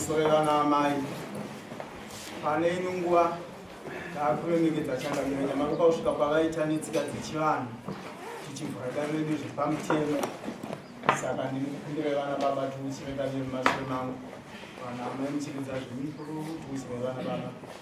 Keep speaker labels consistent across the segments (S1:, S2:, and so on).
S1: Musorerana amai pane ino nguva taakuremekedza changamiro nyamaropa kusvika kwavaita netsika dzechivanhu tichivhura dare redu zviri pamutemo saka ndiri kukumbira vana baba tiuchire dare remumashure mangu vana amai muchiridza zvemikuru tiuchire vana baba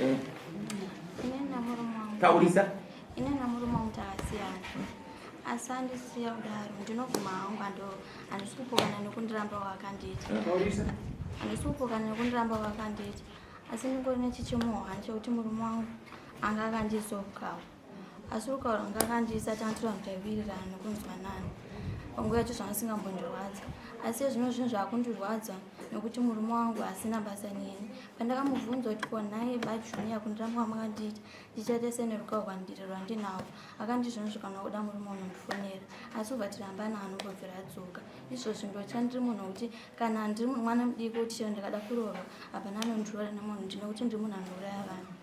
S2: Eh.
S3: taurisa
S2: ine namurume
S3: wangu takasiyana asi andisiya kudaro ndinobvuma hangu ando handisi kupokana nekundiramba wakandiita handisi kupokana nekundiramba wakandiita asi ndingori nechichimuhwa chekuti murume wangu anga akandizokawo asi ukaura ngakandiisa tantura mutaivirirana nokunzwa nani panguva yacho zvanga singambondirwadza asi ezvino zvinhu zvaakundirwadza nokuti murume wangu asina basa neni pandakamubvunza kuti ko nhaye bajuni yakundiramba kwamakanditi ndichaita sene rukau rwandiri rwandinawo akandizvino zvikanwa kuda murume unondifonera asi ubva tirambana anongobvira adzoka izvozvi ndocha ndiri munhu wekuti kana ndiri mwana mudiki kuti chero ndikada kurova hapana anondiroora nemunhu ndine kuti ndiri munhu anouraya vanhu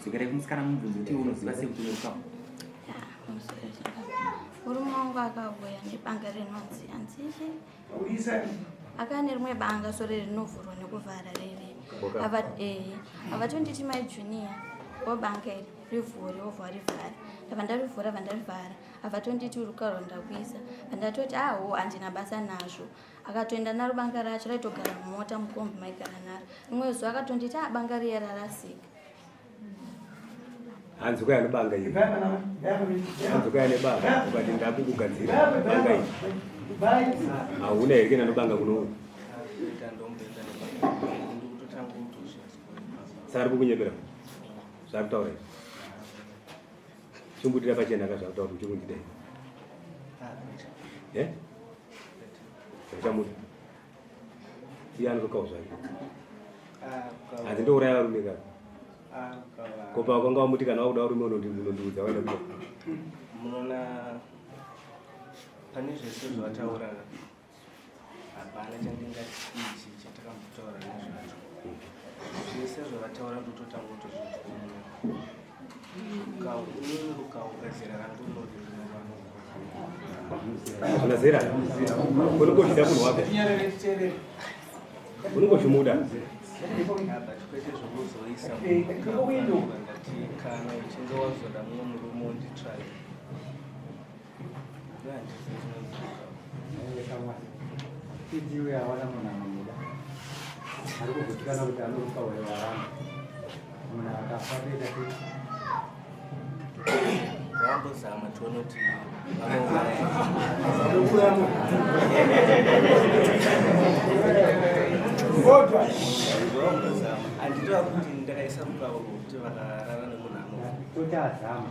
S2: Dzokera kumusikana mubvunzo kuti unoziva sei kuti unoruka.
S3: Murume wangu akauya nebanga rinonzi hanzishi akaya nerimwe banga sore rinovhurwa nekuvhara riri avatonditi eh, mai junior wobanga iri rivhure wobva warivhara ndava ndarivhura vandarivhara avatonditi urukarwa ndakuisa vandatoti aho ah, handina basa nazvo akatoenda naro banga racho raitogara mumota mukombi maigara naro rimwe zuva akatonditi a ah, banga riya rarasika
S2: hanzi kwaya nebanga iri hanzi kwaya nebanga ukati ndakukugadzira banga iri hauna here kena nobanga kuno sari kukunyepera zvaari kutaura izvi Chimbudira pachena ka zvakutaura kuti chikundida iwe. Eh? Zvachamuda. Iye anotokawo zvake. Hanzi ndouraya varume ka. Ko pawakanga wamuti kana wakuda varume unondiudza waenda kuda. Munoona
S1: pane zvese zvataurana. hapana chandingati ichi chatakambotaura nezvacho zvese zvavataura ndototanga kutozvibvuma kaumwe rukaunga zera rangu rinoti rinovanuuna
S2: zera unenge uchida munhu wako unenge uchimuda
S1: kwete zvokuzoisa kana uchinge wazoda mumwe murume unditsvage
S4: Idiwe hawana munhu anomuda ari kugutsikana kuti anoruka uyo waramba munhu akafa kuita kuti
S1: vambozama tione kuti vanouraya kodwa anditoa kuti ndakaisa mukavo kuti vakarara nemunhu anototazama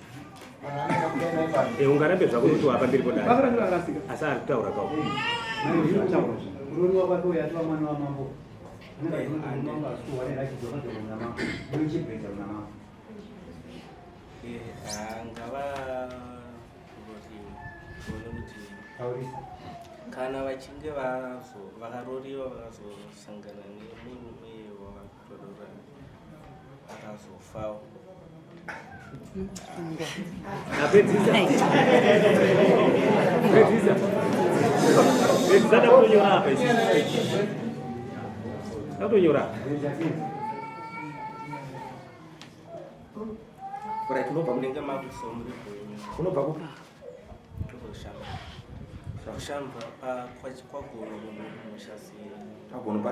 S2: Eh, ungarambe zvako kuti wapa mbiri kodai asi ari
S5: kutaura
S4: kao kana
S6: vachinge vakaroriwa vakazosangana nemunhu uye Right, unobva kunenge makusomri
S5: unobva kupi kushamba
S6: kushamba kwagono kumusha siya kwagono pa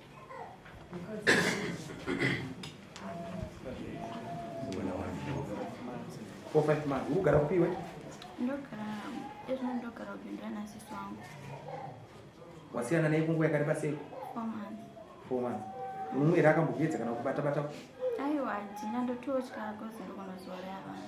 S5: Four, five months. Ugara kupi iwe? Ndogara ezvo
S3: ndogara kupindura na sisi wangu.
S5: Wasiyana naye kunguva yakareba sei? Four months. Four months. Mumwe here akambokuyedza kana kubata bata? Aiwa, hatina
S3: ndototya kozi ndiko mazuva reavana.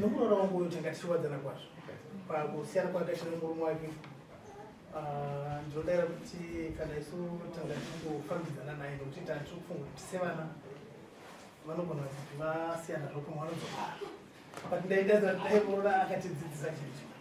S1: Nomuroora wangu uyu tanga tichiwadzana kwazvo pakusiyana kwakaita nemurume wake ah, ndinodaira kuti kana isu tanga tichingofambidzana naye nokuti tanga tiri kufunga kuti sevana vanogona kuti vasiyana zvokumwe vanodzoka but ndaidazira kuti dai muroora akatidzidzisa chinhu chimwe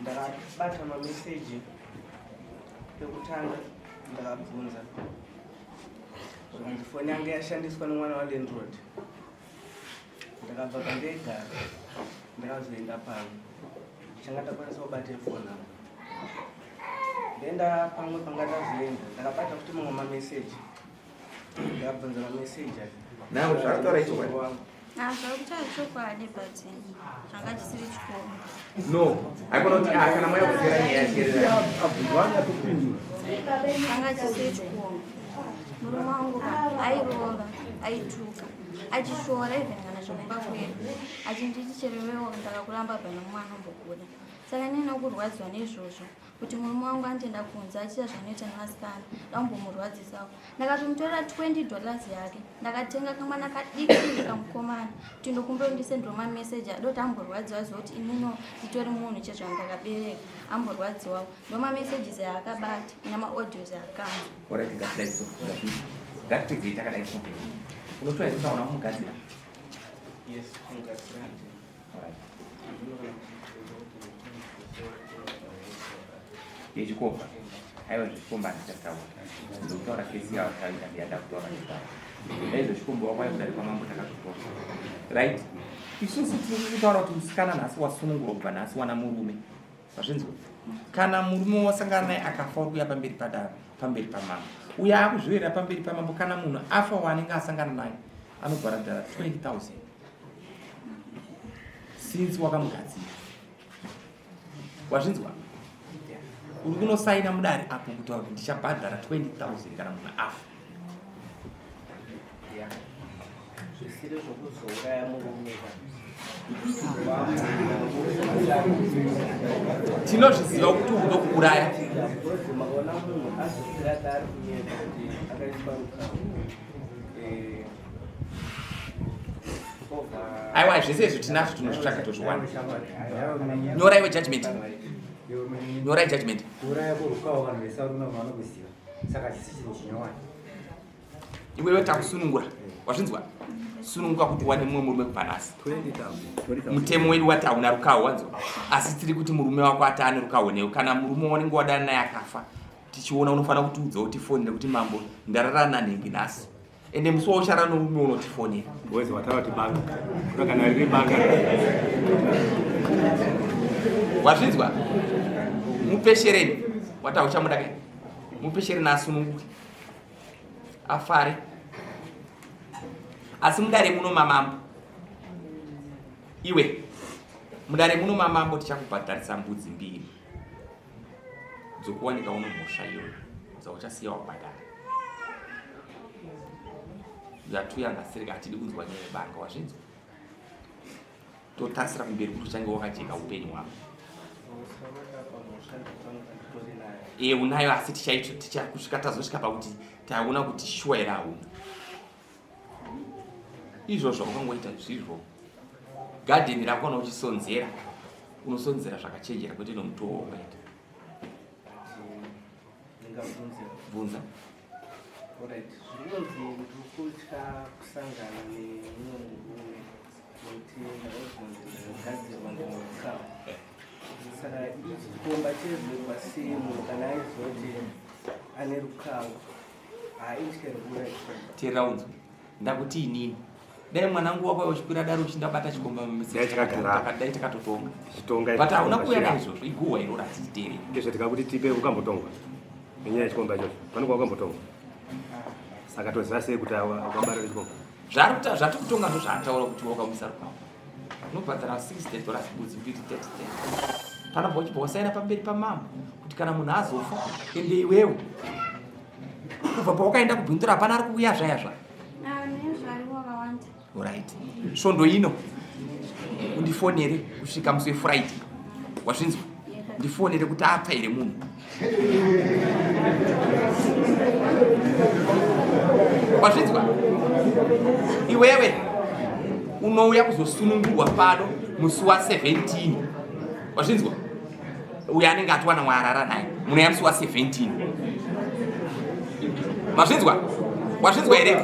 S5: ndakabata
S6: mameseji pekutanga ndakabvunza zvakanzi foni yange yashandiswa nemwana walandrod ndakabva pandegara ndakazoenda pano changa takwanisa kubata foni avo ndenda pamwe panga ndazoenda ndakabata kuti mamwe mameseji Now,
S5: that's
S6: what I told zvakutachokwadi but
S5: changa chisiri chikoma no haikona kuti ah, kana maya kuzera nyaya yachereanga
S2: chisiri
S3: chikoma murume wangu airova aituka achishora even kana zvakumba kwedu achinditi cherewewo ndakakuramba bana mwana mbokuda saka nene kurwadziwa nezvozvo kuti murume wangu andienda kunze achiita zvanoita nevasikana ndaumbomurwadzisawo ndakatomutorera 20 dollars yake ndakatenga kamwana kadiki ndikamukomana kuti ndokumbira ndisendiro mameseji adoti amborwadziwa zoti inino nditori munhu chezvanhu ndakabereka amborwadziwawo ndo mamesages aakabati namaaudios aakamaaakadai
S5: unotoaaaunamugadzira yechikomba aiwa zvechikomba handichataura ndokutaura kesi yavo taita ndiyada kutaura nezvavo ndaizvo chikomba wako aikuda rekwamambo takatotora right isusu tiri kutaura kuti musikana nhasi wasunungurwa kubva nhasi wana murume vazvinzwa kana murume wasangana naye akafa uri kuya pamberi padaro pamberi pamambo uye akuzviverera pamberi pamambo kana munhu afa waanenge asangana naye anobhara dhara 20 000 since wakamugadzira wazvinzwa uri kunosaina mudari apo kutaura kuti ndichabhadhara 20000 kana munhu afa zvisiri
S6: zvokuzouraya murume
S5: tinozviziva kuti uno kuuraya aiwa zvese izvi tinazvo tinozvitsvaga tozviwana nyora iwe judgment nyora judgment iwewe takusunungura wazvinzwa sununguka kuti wane mumwe murume kubva nhasi mutemo wedu wati hauna rukaho wanzwa asi tiri kuti murume wako ati ane rukaho newe kana murume wanenge wadana naye akafa tichiona unofanira kutiudza kuti foni nekuti mambo ndarara nanhengi nhasi ende musi wauchara noumwe unotifonera wezi wataura kuti
S2: banga kuda kana riri banga
S5: wazvinzwa mupeshereni wata uchamuda kai mupeshereni asununguke afare asi mudare muno mamambo iwe mudare muno mamambo tichakubhadharisa mbudzi mbiri dzokuwanika uno mhosva iyoyo dzauchasiya wabhadhara yatuyanga siri katidi kunzwa nyaya yebanga wazvinzwa totasira kumberi kuti uchange wakajeka upenyu hwako e unayo asi tichakusvika tazosvika pakuti taona kuti shuwa here hauna izvo zvaukangoita zvizvo gadheni rako kana uchisonzera unosonzera zvakachenjera kwete nomutowo waukaita bvunza
S6: saka ichikomba chezvekwa semo kana aizoti ane rukawo teera
S5: unzwe ndakuti inini dai mwanangu wako uchikwira daro uchindabata chikomba mumisiakadai takatotonga but hauna kuuya naizvozvo iguwa iro ratiterere ndizvo tikakuti tipe
S2: ukambotongwa nenyaya yechikomba ichocho panokuva ukambotongwa saka toziva sei kuti wakabarira chikomba zvaari kuta zvatikutonga
S5: ndozvaataura kuti wakamusarukwako unobhadhara 60 dollars budzi mbiri 30 kana bhochipo wasaira pamberi pamambo kuti kana munhu azofa ende iwewo kubva pawakaenda kubhindura hapana ari kuuya zvaya zva orit svondo ino undifonere kusvika musi wefriday wazvinzwa ndifonere kuti apfa here munhu wazvinzwa iwewe unouya kuzosunungurwa pano musi wa 17 wazvinzwa uyo anenge atiwana mwaarara naye munouya musi wa 17 mazvinzwa wazvinzwa here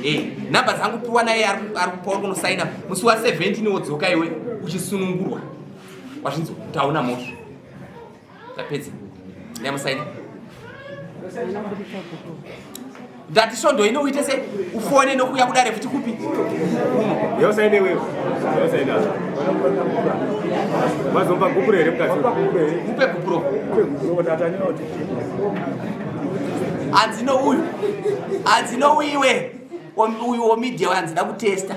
S5: eh, nhamba dzangu piwa naye ari kupauri kunosaina musi wa 17 wodzoka iwe uchisunungurwa wazvinzwa taona mosva tapedza nyamusaini ndati svondo ino uite se ufone nokuya kudare futi kupi
S2: yosaine wewe yosaine mazomba gupuro here mukati upe gupuro
S5: hanzi nouyu hanzi nouiwe uyu womedia wanzi da kutesta